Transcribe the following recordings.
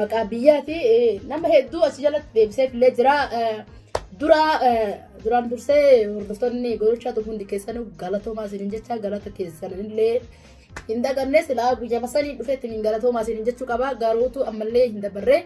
maqaa biyyaa fi nama hedduu as jalatti deebisee illee jira. Dura duraan dursee hordoftoonni godhachaa turan hundi keessanuu galatoomaa isiniin jecha galata keessan illee hin daganne silaa guyyaa masanii dhufeetti hin galatoomaa isiniin jechuu qaba garuutu ammallee hin dabarre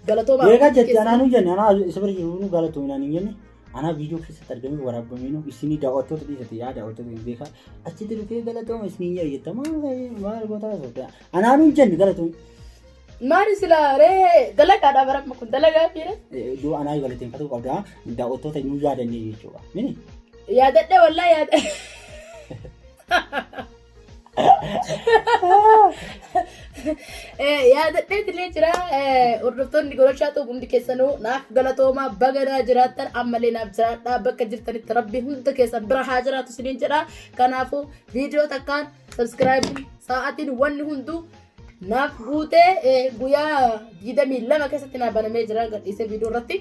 galatoomaa. Eegaa jetti anaa nu jenne anaa isa bira jiru nu galatoominaan hin jenne anaa viidiyoo keessatti argamee waraabamee nu isinii daawwattoota dhiisate yaa daawwattoota hin beekaa achitti dhufee galatooma isiniin jedha jettama maal goota sodaa. Anaa nuun jenni galatoon. Maali sila ree dalagaadha baramma kun dalagaa fiire. Dura anaa galateeffatuu qabda. Daawwattoota hin yaadannee jechuudha. Mini? Yaadadhe wallaa yaada. Yaadadhee tilee jira hordoftoonni goroshaa xuuqumti keessanuu naaf galatoomaa baganaa jiraattan ammallee naaf jiraadhaa bakka jirtanitti rabbi hunda keessan bira haa jiraatu isiniin jedha kanaafuu viidiyoo takkaan Subscribe sa'aatiin wanni hunduu naaf guutee eh, guyyaa 22 keessatti naa banamee jira gadhiisee viidiyoo irratti.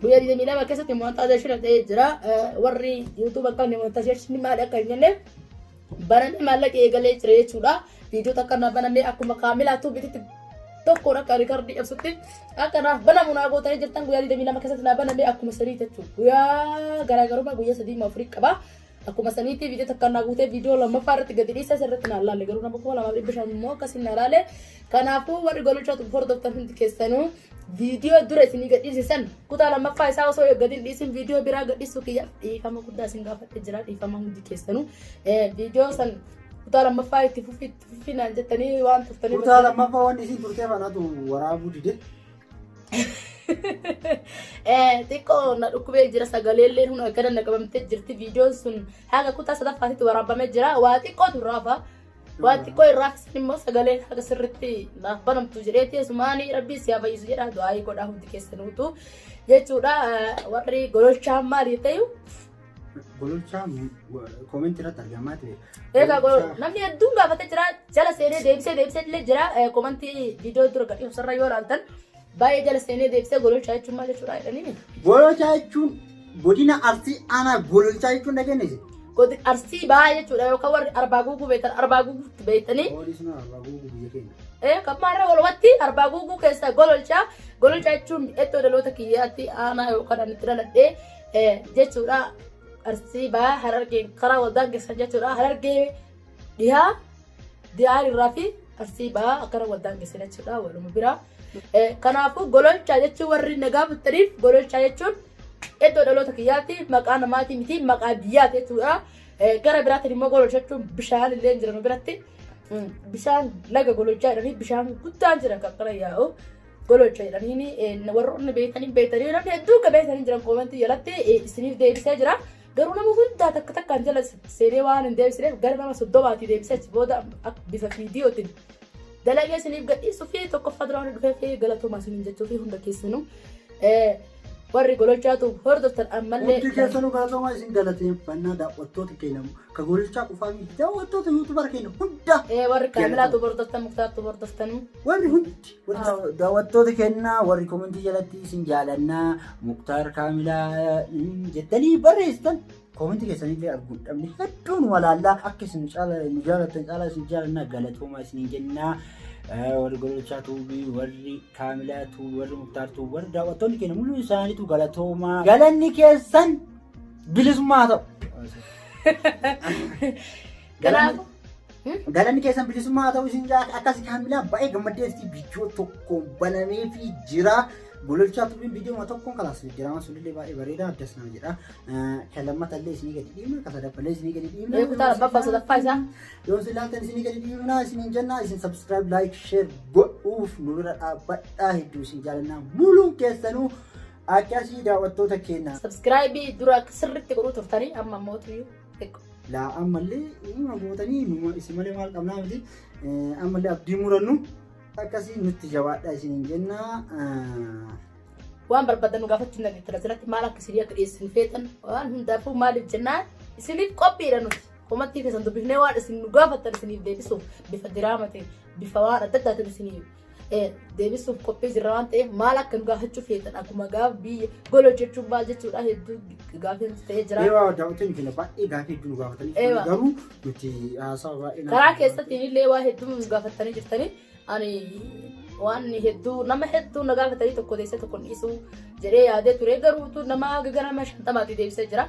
Guyyaa 22 keessatti monetization ta'ee jira. Eh, Warri YouTube akka inni monetization maal akka hin jenneef banamee maallaqa eegalee jira jechuudha. Viidiyoo takka naa banamee akkuma kaamilaa tuubititti tokkoon akka riikardii ibsutti akka naaf banamu naa gootanii jirtan guyyaa 22 keessatti naa banamee akkuma sadii jechuudha. Guyyaa garaagarummaa guyyaa sadii moo afurii qaba. Akkuma saniitii viidiyoo takka naa guutee viidiyoo lammaffaa irratti gadi dhiisaa sirriitti naa laalle garuu nama kuma lamaa dhibba shan immoo akkasiin naa laalle kanaafuu warri gololchaa tubu hordoftan hundi keessanuu viidiyoo dura isinii gad dhiisisan kutaa lammaffaa isaa osoo gadi hin dhiisin viidiyoo biraa gad dhiisuu kiyyaaf dhiifama guddaa isin gaafadhe jira dhiifama hundi keessanuu viidiyoo san kutaa lammaffaa itti fufi itti fufi naan jettanii waan turtanii Kutaa lammaffaa waan isiin turtee kanatu waraabuu dide. xiqqoo na dhukkubee jira sagaleelleen hunda akkana na qabamtee jirti viidiyoon sun haga kutaa sadaffaatitti waraabamee jira waa xiqqootu irraafa waa xiqqoo irraaf isin immoo sagaleen haga sirritti naaf banamtu jedhee teessumaanii rabbii si habayyisu jedha du'aayii godhaa hundi keessanuutu jechuudha warri gololchaa maaliif ta'u Gololchaa koomentii irratti argamaa ta'e. Egaa gololchaa- namni hedduun gaafatee jira jala seenee deebisee deebisee illee jira Eh, komantii viidiyoo dura gadhiisu sarara yoo ilaaltan baay'ee jala seenee deebisee gololchaa jechuun maal jechuudha jedhanii Gololchaa jechuun godina Arsii aanaa gololchaa jechuun dhageenye jira. godi arsii baay'ee jechuudha yookaan warri arbaa guuguu beektan arbaa guuguutti beektanii Poolisii nama abbaa guutuu biyya keenya. Eh, kan maarra walumatti arbaa guuguu keessa gololchaa gololchaa jechuun iddoo dhaloota kiyyaatti aanaa yookaan ani itti dhaladhee jechuudha arsii bahaa harargee karaa wal daangessan jechuudha harargee dhihaa diyaar irraa fi arsii bahaa akkana wal daangessan jechuudha waluma biraa. Kanaafuu gololchaa jechuun warri nagaa buttaniif gololchaa jechuun iddoo dhaloota kiyyaatti maqaa namaatii miti maqaa biyyaati jechuudha. Gara biraatiin immoo gololchaa jechuun bishaan illee jiran biratti bishaan laga gololchaa jedhanii bishaan guddaan jira kan kana yaa'u. gololcha jedhaniini warroonni beektan hin beektan namni hedduu akka beektan hin jiran koomentii jalatti isiniif deebisee jira. Garuu nama hundaa takka takkaan jala seenee waan hin deebisineef gara nama soddomaatii deebisee achi booda bifa viidiyootiin dalagee isiniif gadhiisuu fi tokkoffaa dura waan dhufee fi galatoomaa isiniin jechuu fi hunda keessanuu warri gololchaatu hordoftan ammallee. Hundi keessanuu galatoomaa isin galateeffannaa daawwattoota keenya ka gololchaa qofaa miti daawwattoota yuutuubara keenya hunda. Warri kaamilaatu hordoftan muktaartu hordoftanuu. Warri hundi. Daawwattoota kennaa warri komentii jalatti isin jaalannaa Muktaar Kaamilaa jettanii barreessitan komentii keessanillee arguun dhabne hedduun walaallaa akka isin nu jaalatan caalaa isin jaalannaa galatoomaa isiniin jennaa. warri gololchaa tuubii warri kaamilaa tuubii warri muktaar tuubii warri daawwattoonni keenya mul'uu isaaniitu galatoomaa galanni keessan bilisummaa ta'u. Kanaafuu galanni keessan bilisummaa haa ta'u isin jaa akkasi kaamilaa baay'ee gammaddeetti viidiyoo tokkoon banamee fi jira. Gololchaa tubiin viidiyoo tokkoon kalaas jijjiirama sunillee baay'ee bareeda addas nama jedha. Kan lammata illee isinii gadi dhiibna kan sadaffaa illee isinii gadi dhiibna. Ee kutaa labbaa sadaffaa isaa. Yoo isin laatan isinii gadi dhiibna isiniin jenna isin subscribe like share godhuuf nu bira dhaabbadhaa hedduu isin jaalannaa muluun keessanuu akkasii daawwattoota keenya. Subscribe dura sirriitti godhuu turtanii amma mootu. Laa ammallee uumama gootanii numa isin malee maal qabnaa miti ammallee abdii murannu akkasii nutti jabaadhaa isiniin jenna. Waan barbaadan nu gaafachuu hin dandeettan asirratti maal akka isinii akka dhiyeessin feetan waan hundaafuu maaliif jennaan isiniif qophiidha nuti. Komattii keessan dubbifnee waan isin nu gaafattan isiniif deebisuuf bifa diraama ta'e bifa waan adda addaatiin isiniif deebisuuf qophii jirra waan ta'eef maal akka nu gaafachuu feetan akkuma gaaf biyya gola jechuun maal jechuudha hedduu gaafiin ta'ee jira. Eewaa daawwattoonni keenya baay'ee gaafii hedduu nu gaafatanii Eewa. garuu nuti haasawa baay'ee nama- Karaa keessattiin illee waa hedduu nu gaafatanii jirtanii ani waan hedduu nama hedduu na gaafatanii tokko teessee tokko dhiisuu jedhee yaadee ture garuu utuu nama gara nama shantamaatti deebisee jira.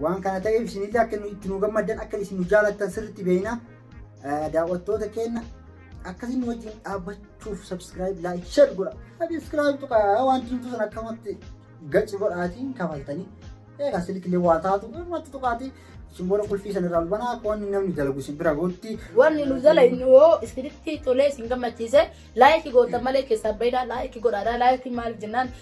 Waan kana ta'eef isinillee akka nu itti nu gammaddan akka isin nu jaalattan sirriitti beekna. Eh, Daawwattoota keenya akkasiin nu wajjin dhaabbachuuf subscribe, like, share godha. Subscribe tuqaa waan jirtu sana akkamatti gaci godhaatiin kafaltanii. Egaa silkilee waa taatu irratti tuqaatii isin booda qulfii sana irraa banaa akka wanni namni dalagu isin bira gootti. Wanni nu jala hin yoo isinitti tolee isin gammachiise laayikii gootan malee keessaa baay'inaa laayikii godhaadha. Laayikii maal jennaan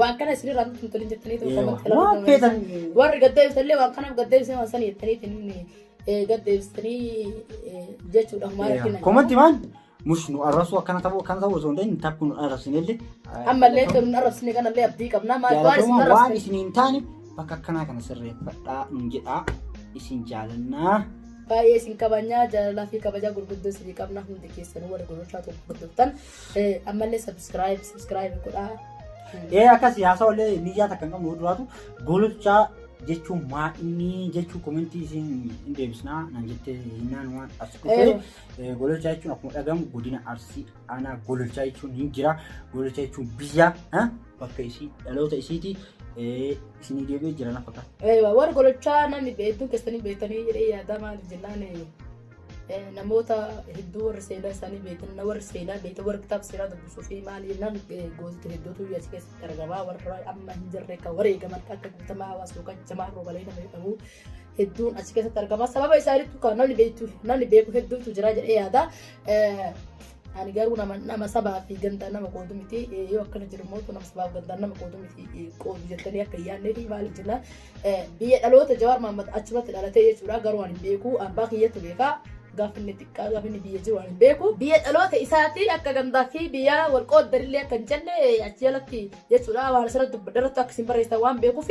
waan kana isin irraa nutti hin tolin jettanii ta'u Eewa. komatti Waan ilaaluu feetan. dandeessan. Warri gadda ibsallee waan kanaaf gadda ibsee waan sana jettanii tiniin gadda ibsitanii jechuudha maal argina. Komatti maan mus nu arrabsuu akkana ta'uu akkana ta'uu osoo hin ta'in takku nu arrabsinellee. Ammallee kan nu arrabsine kanallee abdii qabna maal waan isin Jaalatamuun waan arrabsine. isin hin taane bakka akkanaa kana sirreeffadhaa nu jedhaa isin jaalannaa. Baay'ee isin kabajnaa jaalalaa fi kabajaa gurguddoo isinii qabna hundi keessanuu warri gurgurtaa tokko gurgurtan Ammallee subscribe subscribe godhaa. Ee akkasii haasawa illee miidiyaa takka hin qabnu duraatu gololchaa jechuun maa inni jechuu komentii isin hin deebisnaa nan jettee hinnaan waan as dhufee gololchaa jechuun akkuma dhagamu godina arsii aanaa gololchaa jechuun hin jira gololchaa jechuun biyya bakka isii dhaloota isiiti isinii deebi'ee jira lafa kana. Warri gololchaa namni beektu keessanii beektanii jedhee yaadamaa jennaan namoota hedduu warri seenaa isaanii beekan na warri seenaa beekan warri kitaaba seeraa dubbisuu fi maal jennaan gootota hedduutu as keessatti argamaa warra amma hin jirre kan wareegaman akka guutamaa hawaasa yookaan jamaa roobalee nama jedhamu hedduun as keessatti argamaa sababa isaaniitu kan namni beektu namni beeku hedduutu jira jedhee yaada. Ani garuu nama nama sabaa fi gandaa nama qoodu miti yoo akkana jiru mootu nama sabaa fi gandaa nama qoodu miti qoodu jettanii akka yaadnee fi maal jenna Biyya dhaloota Jawaar Mahammad achumatti dhalatee jechuudha garuu ani hin beeku abbaa kiyyatu beeka gaafinni xiqqaa gaafinni biyya jiru ani hin beeku. Biyya dhaloota isaati akka gandaa fi biyya wal qooddarillee akka hin jenne achi jalatti jechuudha waan asirratti dubbadhe irratti akka isin barreessitan waan beekuuf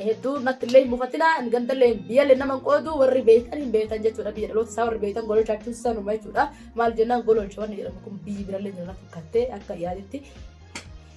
hedduu natti illee hin mufatina gandallee biyyallee nama hin qoodu warri beektan hin beektan jechuudha biyya dhaloota isaa warri beektan gololchaa jechuun sanuma jechuudha maal jennaan gololcha wanni jedhamu kun biyyi birallee jala fakkattee akka yaaditti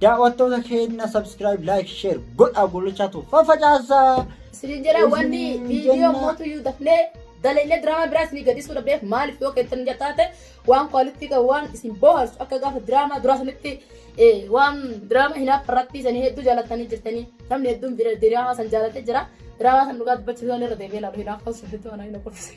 Daawwattoota keenya subscribe, like, share godhaa gollichaa tu faffacaasaa. Isin jedha wanni viidiyoo mootu iyyuu dafnee dalainee diraamaa biraas ni gadisuu dhabdeef maaliif yoo keessan hin jataate waan kwaalitii qabu waan isin booharsu akka gaafa diraamaa duraa sanitti waan diraamaa hinaaf irratti sanii hedduu jaalatanii jirtanii namni hedduun diraamaa san jaalatee jira diraamaa san dhugaa dubbachuudhaan irra deebi'ee laalu hinaaf haasuu hedduu anaa hin okkofise.